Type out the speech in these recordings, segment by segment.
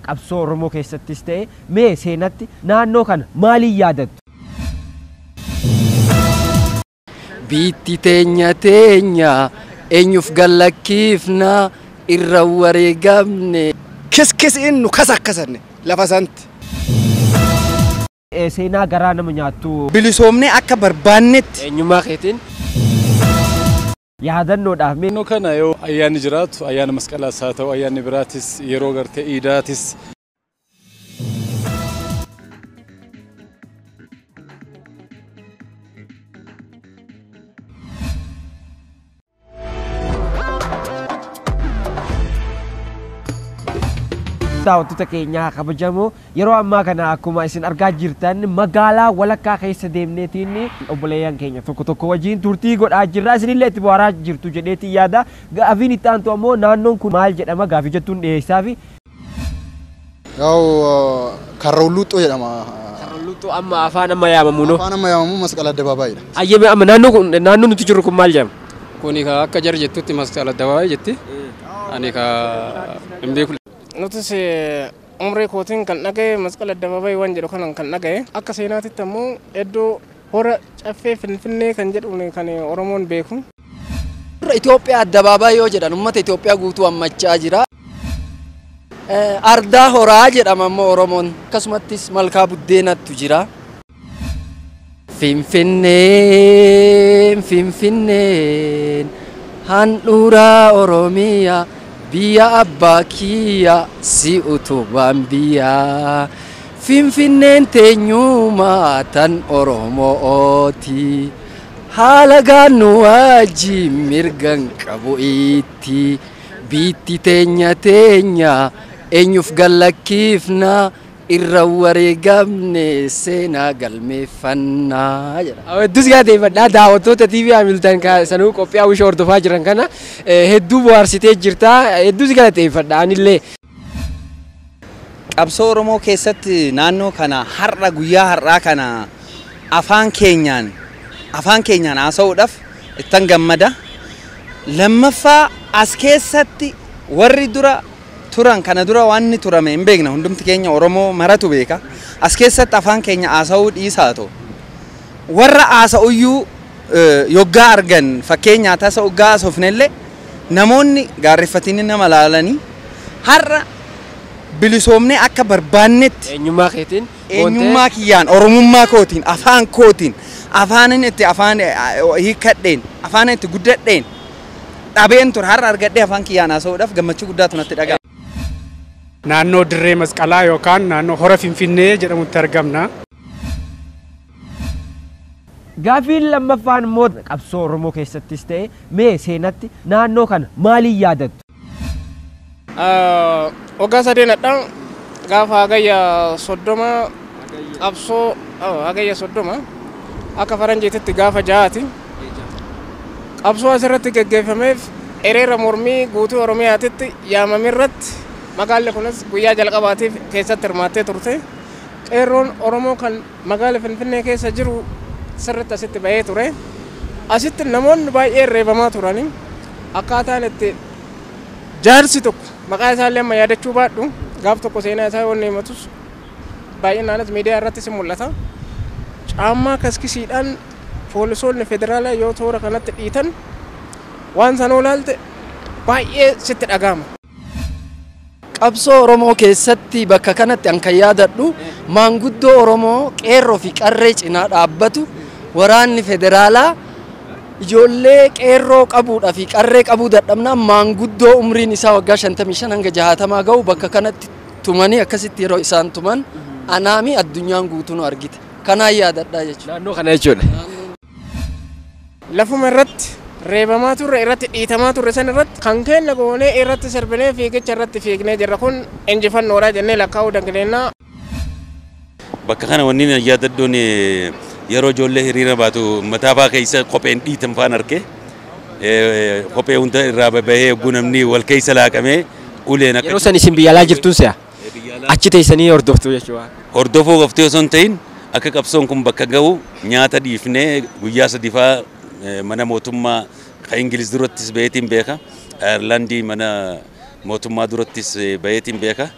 Qabsoo Oromoo keessattis ta'e mee seenatti naannoo kana maaliin yaadattu? Biitti teenya teenya eenyuuf gallakkiifna irra wareegamne. Kiskisiin nu kasakkasanne lafa santi. Eh, Seenaa garaa nama nyaattu. Bilisoomnee akka barbaannetti. Eenyummaa keetiin. yaadannoodhaaf mee. Naannoo kana yoo ayyaanni jiraatu ayyaana masqalaas haa ta'u ayyaanni biraatis yeroo gartee iidaatis. daawwattoota keenyaa kabajamoo. Yeroo ammaa kana akkuma isin argaa jirtan magaalaa walakkaa keessa deemneetiin obboleeyyan keenya tokko tokko wajjin turtii godhaa jirra. Isinillee itti bohaaraa jirtu jedheetiin yaada. Gaafiin itti aantu ammoo naannoon kun maal jedhama gaafii jettuun dhiyeessaafi. Yaa'u Karra Hulluuxxoo jedhama. Karra Hulluuxxoo amma afaan amma yaamamu noo. Afaan amma yaamamu Masqala Addabaabaayidha. Ayyeme amma naannoo kun naannoo nuti jirru kun maal jedhama? Kuni ka akka jar jettutti Masqala Addabaabaay jetti. Ani ka hin beeku. Nutis Umrii kootiin kan dhaga'e Masqal Addabaabayii waan jedhu kanan kan dhaga'e. Akka seenaatitti ammoo iddoo Hora Caffee Finfinnee kan jedhuun kan Oromoon beeku. Itoophiyaa Addabaabayii yoo jedhan uummata Itoophiyaa guutuu hammachaa jira. Ardaa Horaa jedhama ammoo Oromoon. Akkasumattis Malkaa Buddeenatu jira. Finfinneen Finfinneen handhuura Oromiyaa Biyya abbaa kiyya si utubaan biyyaa Finfinneen teenyuma tan Oromo'ooti Halagaan nu wajjiin mirgan qabu itti Biitti teenya teenya eenyuuf gad lakkifna Irra wareegamne seenaa galmeeffanna jedha. Hedduu si galateeffadha. Daawwattoota TV Hamilton ka sanuu qophii Hawwisho hordofaa jiran kana hedduu bohaarsitee jirta. Hedduu si galateeffadha anillee. Qabsoo Oromoo keessatti naannoo kana har'a guyyaa har'aa kana afaan keenyaan afaan keenyaan haasa'uudhaaf ittan gammada. Lammaffaa as keessatti warri dura turan kana dura waanni turame hin beekna hundumti keenya Oromoo maratu beeka as keessatti afaan keenya haasa'uu dhiisaatoo warra haasa'uyyuu yoggaa argan fakkeenyaa tasa oggaa haasofnelle namoonni gaarreffatini nama laalanii har'a bilisoomnee akka barbaannetti Eenyummaa keetiin boontee eenyummaa kiyyaan oromummaa kootiin afaan kootiin afaanin itti afaan hiikkadheen afaanin itti guddadheen dhabeen ture. Har'a argadhee afaan kiyyaan haasa'uudhaaf gammachuu guddaatu natti dhaga'ama. Naannoo Dirree Masqalaa yookaan naannoo Hora Finfinnee jedhamutti argamna. Gaaffiin lammaffaan immoo qabsoo Oromoo keessattis ta'e mee seenatti naannoo kana maaliin yaadattu? Waggaa sadeen hadha gaafa hagayya soddoma qabsoo hagayya soddoma akka faranjiititti gaafa ja'aati qabsoo asirratti geggeeffameef hiriira mormii guutuu oromiyaatitti yaamame irratti magaalli kunis guyyaa jalqabaatiif keessatti hirmaattee turte qeerroon oromoo kan Magaala Finfinnee keessa jiru sirritti asitti ba'ee ture. Asitti namoonni baay'een reebamaa turani. Akkaataan itti jaarsi tokko maqaa isaallee amma yaadachuu baadhu gaaf tokko seenaa isaa yoo inni himatus baay'inaanis miidiyaa irrattis hin mul'ata. Caammaa kaskisiidhaan poolisoonni federaalaa yoo toora kanatti dhiitan waan sanoo ilaalte baay'ee sitti dhaga'ama. Qabsoo Oromoo keessatti bakka kanatti an kan yaadadhu maanguddoo Oromoo qeerroo fi qarree cinaa dhaabbatu waraanni federaalaa ijoollee qeerroo qabuudha fi qarree qabuu dadhabnaan maanguddoo umriin isaa waggaa 55 hanga 60 ga'u bakka kanatti tumanii akkasitti yeroo isaan tuman anaami addunyaan guutuu nu argite kanaan yaadadhaa jechuudha. Naannoo kana jechuudha. Lafuma irratti reebamaa turre, irratti dhiitamaa turre san irratti kan keenna goonee irratti sirbinee fiigicha irratti fiignee jirra. Kun injifannoodha jennee lakkaa'uu dangneenya. Bakka kana wanniin an yaadadhuun yeroo ijoollee hiriira baatu mataafaa keessa kopheen dhiitan faan arke. Kophee hunda irraa bahee hogguu namni wal keessa laaqamee uleen akka Yeroo san isin biyya alaa jirtuun se'a? biyya alaa. Achi teessanii hordoftu jechuudha. Hordofuu qofti osoo hin ta'iin akka qabsoon kun bakka gahu nyaata dhiifnee guyyaa sadii faa mana mootummaa ka Ingiliz durattis baheetiin beeka. Ayarlaandii mana mootummaa durattis baheetiin beeka.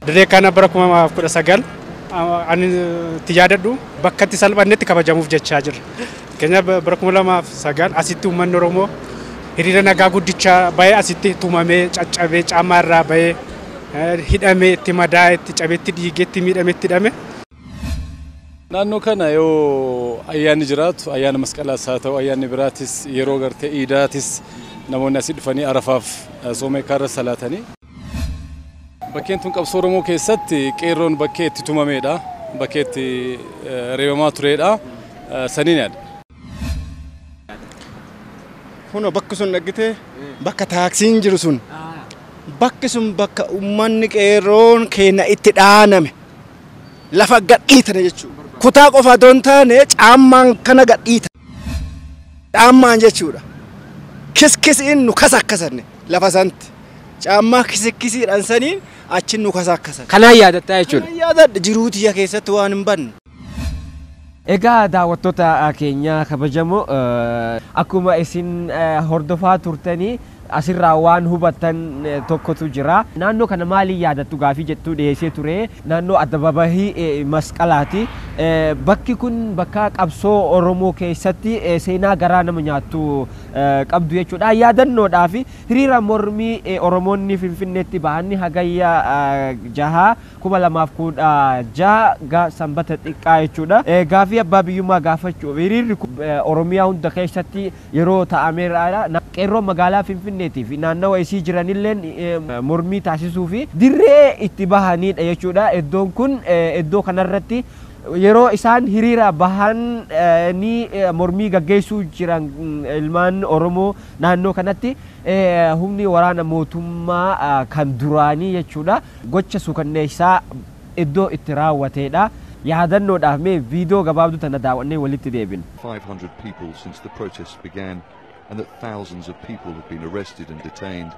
Dirree kana bara 2019 ani itti yaadadhu bakkatti salphannetti kabajamuuf jechaa jirra. Fakkeenyaaf bara 2009 asitti uummanni Oromoo hiriira nagaa guddicha bahee asitti tumamee, caccabee, caamaa irraa bahee, hidhamee, itti madaa'e, itti cabee, itti dhiigee, itti miidhame, itti hidhame. Naannoo kana yoo ayyaanni jiraatu ayyaana masqalaas haa ta'u ayyaanni biraatis yeroo gartee iidaatis namoonni asii dhufanii arafaaf sooma hiikkaa irra salaatanii. Bakkeen tun qabsoo Oromoo keessatti qeerroon bakkee itti tumameedha. Bakkee itti reebamaa tureedha. Saniin yaada. Kunoo bakki sun dhaggitee bakka taaksiin jiru sun bakki sun bakka uummanni qeerroon keenya itti dhaaname lafa gadhiitane jechuudha. Kutaa qofa otoo hin taane caammaan kana gadhiitane. Caammaan jechuudha. Kiskisiin nu kasakkasanne lafa santi. Caammaa kisikkisiidhaan saniin achi nu kasakkasan. Kanaan yaadatta jechuudha. Kanaan yaadadha jiruu tiyya keessatti waan hin banne. Egaa daawwattoota keenyaa kabajamoo akkuma isin hordofaa turtanii Asirraa waan hubattan tokkotu jira. Naannoo kana maaliin yaadattu gaafii jettu dhiheessee ture. Naannoo Addababahii Masqalaati. Bakki kun bakka qabsoo Oromoo keessatti seenaa garaa nama nyaattu qabdu jechuudha. Yaadannoodhaaf hiriira mormii Oromoonni Finfinneetti bahan Hagayya 6, 2016 ga Sanbata Xiqqaa jechuudha. Gaafii abbaa biyyummaa gaafachuuf hiriirri kun Oromiyaa hunda keessatti yeroo taa'ameeraadha. Qeerroon magaalaa Finfinneetii fi naannawa isii jiranilleen mormii taasisuu fi dirree itti bahaniidha jechuudha. Eddoon kun eddoo kanarratti yeroo isaan hiriira bahanii mormii gaggeessuu jiran ilmaan Oromoo naannoo kanatti humni waraana mootummaa kan duraanii jechuudha gocha suukanneessaa iddoo itti raawwateedha. Yaadannoodhaaf mee viidoo gabaabduu tana daaw'annee walitti deebina. 500 people since the protests began and that thousands of people have been arrested and detained.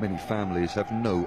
Many families have no